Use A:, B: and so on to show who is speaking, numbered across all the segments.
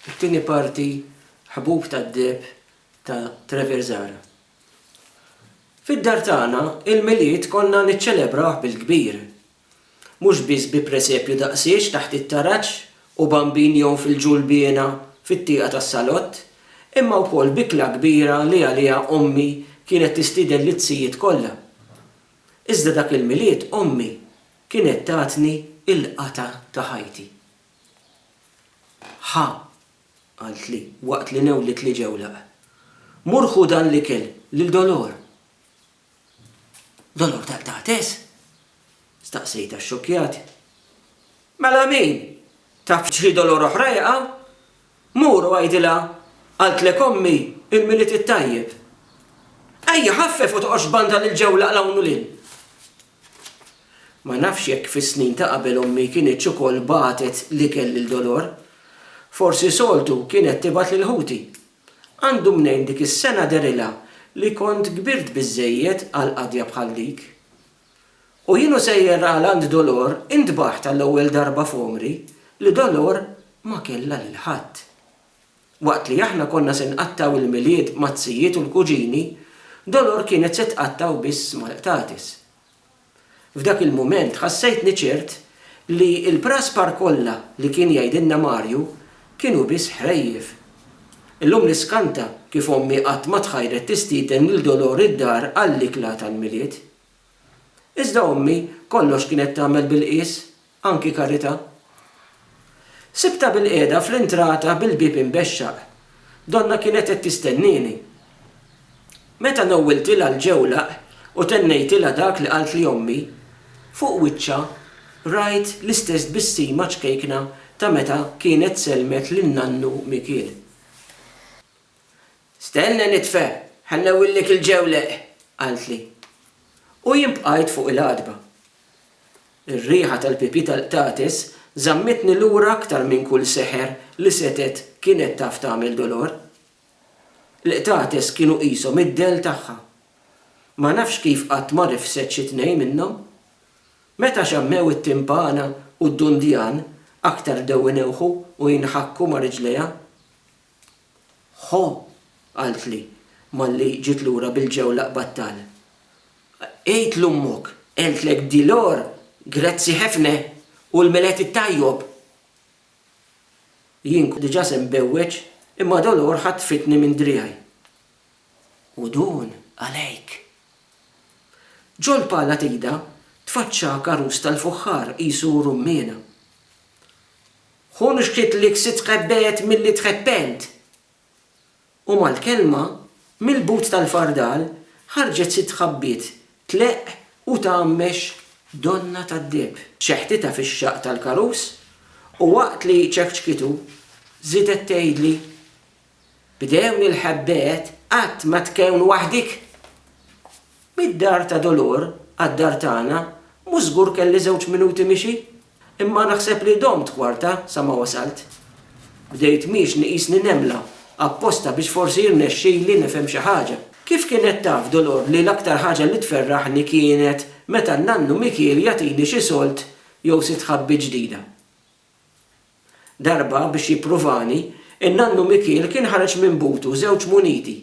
A: It-tieni parti Ħbub tad-deheb ta' Trevor Zahra. Fid-dar tagħna, il-Milied konna niċċelebrawh bil-kbir. Mhux biss bi presepju daqsiex taħt it-taraġ u bambin jgħum fil-ġulbiena fit-tieqa tas-salott, imma wkoll b'ikla kbira li għaliha ommi kienet tistieden lizzijiet kollha. Iżda dak il-Milied ommi kienet tatni il-qatgħa ta' ħajti. Ħa, qaltli, waqt li newwlet li ġewlaq. Mur ħu dan l-ikel lil Dolor. Dolor tal-qtates? Staqsejtha xxokkjat. Mela min? Taf xi Dolor oħra jaqa'? Mur u għidilha qaltlek ommi il-Milied it-Tajjeb. Ejja ħaffef u toqgħodx tbandal il-ġewlaq 'l hawn u 'l hinn. Ma nafx jekk fis-snin ta' qabel ommi kinitx ukoll bagħtet l-ikel lil Dolor. Forsi soltu kienet tibgħat lil ħuti. Għandu mnejn dik is-sena dehrilha li kont kbirt biżżejjed għal qadja bħal dik. U jien u sejjer għal għand Dolor intbaħt għall-ewwel darba f'għomri li Dolor ma kellha lil ħadd. Waqt li aħna konna se nqattgħu l-Milied maz-zijiet u l-kuġini, Dolor kienet se tqattgħu biss mal-qtates. F'dak il-mument ħassejtni ċert li l-praspar kollha li kien jgħidilna Marju kienu biss ħrejjef. Illum niskanta kif ommi qatt ma tħajret tistieden lil Dolor id-dar għall-ikla tal-Milied. Iżda ommi kollox kienet tagħmel bil-qies Anki Carità. Sibtha bilqiegħda fl-intrata bil-bieb imbexxaq. Donna kienet qed tistennieni. Meta newwiltilha l-ġewlaq u tennejtilha dak li qaltli ommi, fuq wiċċha rajt l-istess tbissima ċkejkna ta' meta kienet sellmet lil nannu Mikiel. Stenna nitfa' ħa nnewwillek il-ġewleq, qaltli. U jien bqajt fuq il-għatba. Ir-riħa tal-pipi tal-qtates żammitni lura aktar minn kull seħer li setgħet kienet taf tagħmel dolor. Il-qtates kienu qishom id-dell tagħha. Ma nafx kif qatt ma rifset xi tnejn minnhom. Meta xammew it-timpana u d-dundjan aktar bdew inewħu u jinħakku ma' riġlejha. Ħo! qaltli malli ġiet lura bil-ġew l-aqbad tal. Għid 'l ommok għeltlek di l-or grazzi ħefna u l-meled it-tajjob! Jien kont diġa se nbewweġ imma Dolor ħatfitni minn driegħi. U dun għalejk! Ġo l-pala t'idha tfaċċa karus tal-fuħħar qisu rummiena. Hu nixtiet li ksitt tħebbet milli tħeppent. U mal-kelma, mill-but tal-fardal ħarġet sitt ħabbiet tleqq u tgħammex donnha tad-deheb. Ċeħtitha fix-xaqq tal-karus u waqt li ċekċkitu, żiedet tgħidli, B'dewn-i l-ħebbet qatt ma tkun waħdik! Mid-dar ta' Dolor għad-dar tagħna mhux żgur kelli żewġ minuti mixi, imma naħseb li domt kwarta sa ma wasalt. Bdejt mhix nqisni nemla, apposta biex forsi jirnexxili nifhem xi ħaġa. Kif kienet taf Dolor li l-aktar ħaġa li tferraħni kienet meta n-nannu Mikiel jagħtini xi sold jew sitt ħabbiet ġdida? Darba, biex jippruvani, in-nannu Mikiel kien ħareġ minn butu żewġ muniti,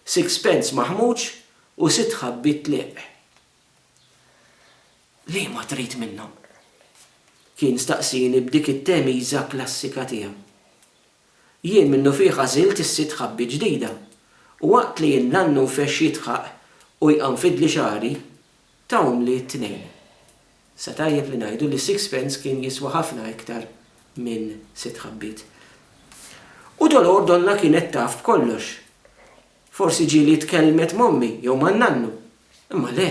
A: sixpence maħmuġ u sitt ħabbiet tliq. Liema trid minnhom? kien staqsieni b'dik it-temiża klassika tiegħu. Jien minnufih għażilt is-sitt ħabbiet ġdida, u waqt li n-nannu nfexx jidħaq u jqammfidli xagħri, ta' umli t-tnejn. Sa tajjeb li ngħidu li sixpence kien jiswa ħafna iktar minn sitt ħabbiet. U Dolor donnha kienet taf b'kollox. Forsi ġieli tkellmet m'ommi jew man-nannu. Imma le!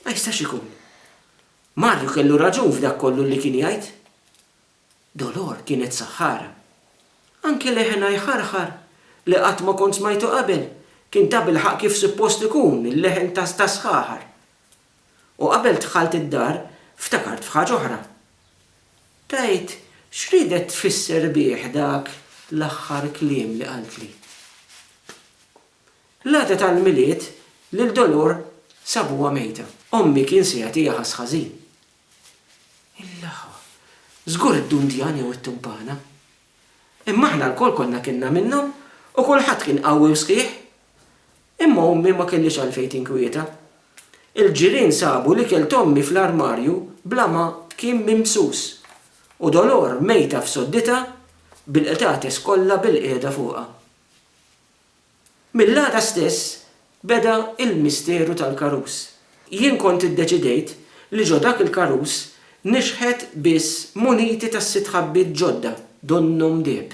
A: Ma jistax ikun! Marju kellu raġun f'dak kollu li kien jgħid. Dolor kienet saħħara. Anke leħenha jħarħar, li qatt ma kont smajtu qabel, kien tabilħaqq kif suppost ikun il-leħen ta' sħaħar. U qabel dħalt id-dar, ftakart f'ħaġa oħra. Tgħid x'riedet tfisser bih dak l-aħħar kliem li qaltli? L-għada tal-Milied lil Dolor sabuha mejta. Ommi kien se jagħtiha ħass ħażin. Il-laħa. Żgur id-dundjan jew it-tumpana. Imma aħna lkoll konna kilna minnhom u kulħadd kien qawwi u sħiħ. Imma ommi ma kellhiex għalfejn tinkwieta. Il-ġirien sabu l-ikel t'ommi fl-armarju bla ma kien mimsus u Dolor mejta f'sodditha bil-qtates kollha bilqiegħda fuqha. Mill-għada stess beda l-misteru tal-karus. Jien kont iddeċidejt li ġo dak il-karus nixħet biss muniti tas-sitt ħabbiet ġodda donnhom deheb.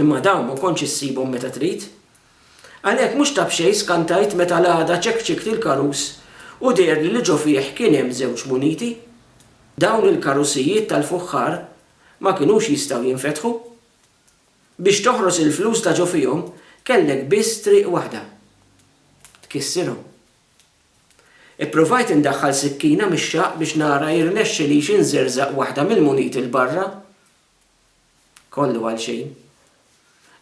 A: Imma dawn ma kontx issibhom meta trid. Għalhekk mhux ta' b'xejn skantajt meta l-għada ċekċikt il-karus u deherli li ġo fih kien hemm żewġ muniti. Dawn il-karusijiet tal-fuħħar ma kinux jistgħu jinfetħu. Biex toħros il-flus ta' ġo fihom kellek biss triq waħda. Tkissirhom. Ippruvajt indaħħal sikkina mix-xaqq biex nara jirnexxilix inżerżaq waħda mill-muniti 'l barra. Kollu għal xejn.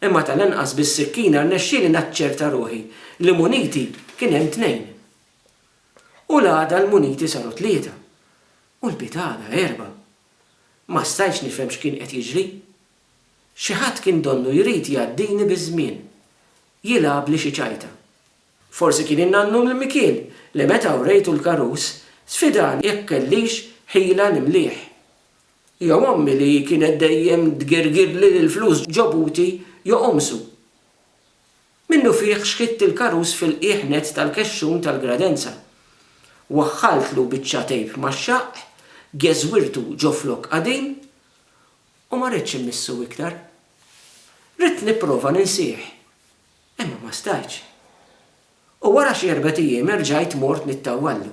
A: Imma tal-anqas bis-sikkina rnexxieli naċċerta ruħi li muniti kien hemm tnejn. U l-għada l-muniti saru tlieta. U l-pitgħada erba'. Ma stajtx nifhem x'kien qed jiġri. Xi ħadd kien donnu jrid jgħaddini biż-żmien. Jilgħabli xi ċajta. Forsi kien in-nannu Mimikien li meta wrejtu l-karus sfidani jekk kellix ħila nimlih. Jew ommi li kienet dejjem tgirgirli li l-flus ġobuti joqomsu. Minnufih xħidt il-karus fil-qiegħ nett tal-kexxun tal-gradenza. Waħħaltlu biċċa tejp max-xaqq, geżwirtu ġo flokk qadim, u ma ridtx immissu iktar. Ridt nipprova ninsih, imma ma stajtx. U wara xi erbgħet ijiem erġajt mort nittawwallu.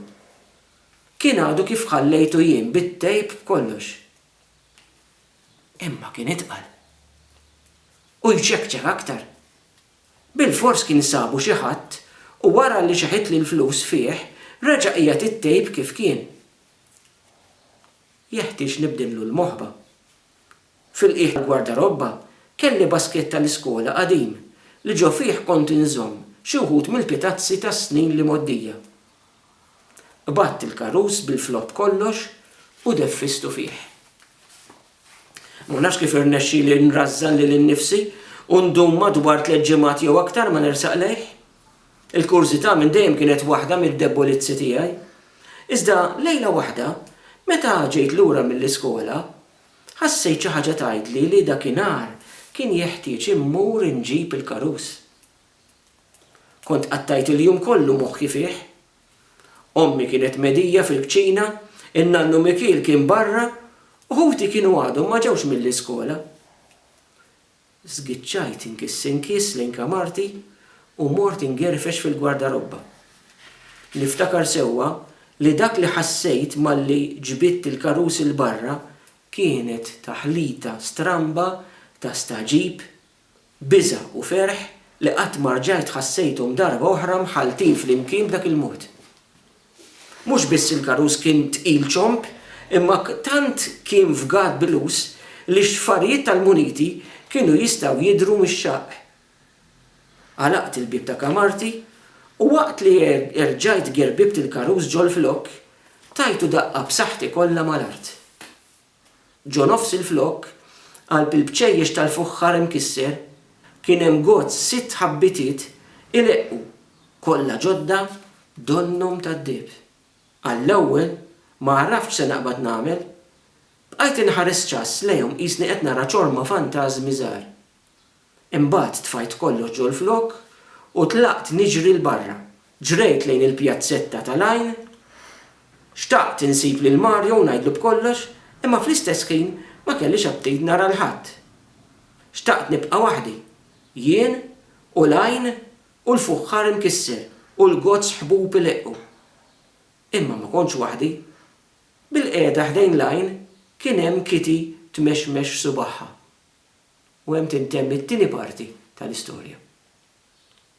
A: Kien għadu kif ħallejtu jien bit-tejp b'kollox. Imma kien itqal. U jċekċek aktar. Bilfors kien sabu xi ħadd u wara li xeħitli l-flus fih, reġa' qiegħed it-tejp kif kien. Jeħtieġ nibdillu l-moħba. Fil-qiegħ tal-gwardarobba kelli baskett tal-iskola qadim li ġo fih kont inżomm xi wħud mill-pitazzi tas-snin li mgħoddija. Qbadt il-karus bil-flott kollox u deffistu fih. Ma nafx kif irnexxieli nrażżan lili nnifsi u ndum madwar tliet ġimgħat jew aktar ma nersaq lejh. Il-kurżità minn dejjem kienet waħda mid-debbolizzi tiegħi. Iżda lejla waħda, meta ġejt lura mill-iskola, ħassejt xi ħaġa tgħidli li dakinhar kien jeħtieġ immur inġib il-karus. Kont qattajt il-jum kollu moħħi fih. Ommi kienet medija fil-kċina, in-nannu Mikiel kien barra u ħuti kienu għadhom ma ġewx mill-iskola. Żgiċċajt inkiss inkiss lejn kamarti u mort ingerfex fil-gwardarobba. Niftakar sewwa li dak li ħassejt malli ġbidt il-karus 'il barra kienet taħlita stramba ta' stagħġib Biża' u ferħ li qatt ma rġajt ħassejthom darba oħra mħalltin flimkien b'dak il-mod. Mhux biss il-karus kien tqil ċomb, imma tant kien fgat bilus li x-xfarijiet tal-muniti kienu jistgħu jidhru mix-xaqq. Għalaqt il-bieb ta' kamarti u waqt li erġajt gerbibt il-karus ġol-flokk, tajtu daqqa b'saħħti kollha mal-art. Ġo nofs il-flokk, qalb il-bċejjex tal-fuħħar imkisser, kien hemm gozz sitt ħabbitiet ileqqu, kollha ġodda donnhom tad-deheb. Għall-ewwel, ma għaraftx se naqbad nagħmel. Bqajt inħares ċass lejhom qisni qed nara ċorma fantażmi żgħar. Imbagħad tfajt kollox ġol-flokk u tlaqt niġri 'l barra. Ġrejt lejn il-pjazzetta tal-għajn. Xtaqt insib lil Mario u ngħidlu b'kollox, imma fl-istess ħin ma kellix aptit nara 'l ħadd. Xtaqt nibqa' waħdi. Jien u l-għajn u l-fuħħar imkisser u l-gozz ħbub ileqqu. Imma ma kontx waħdi. Bilqiegħda ħdejn l-għajn kien hemm Kitty tmexmex subagħha. u hemm tintemm it-tieni parti tal-istorja.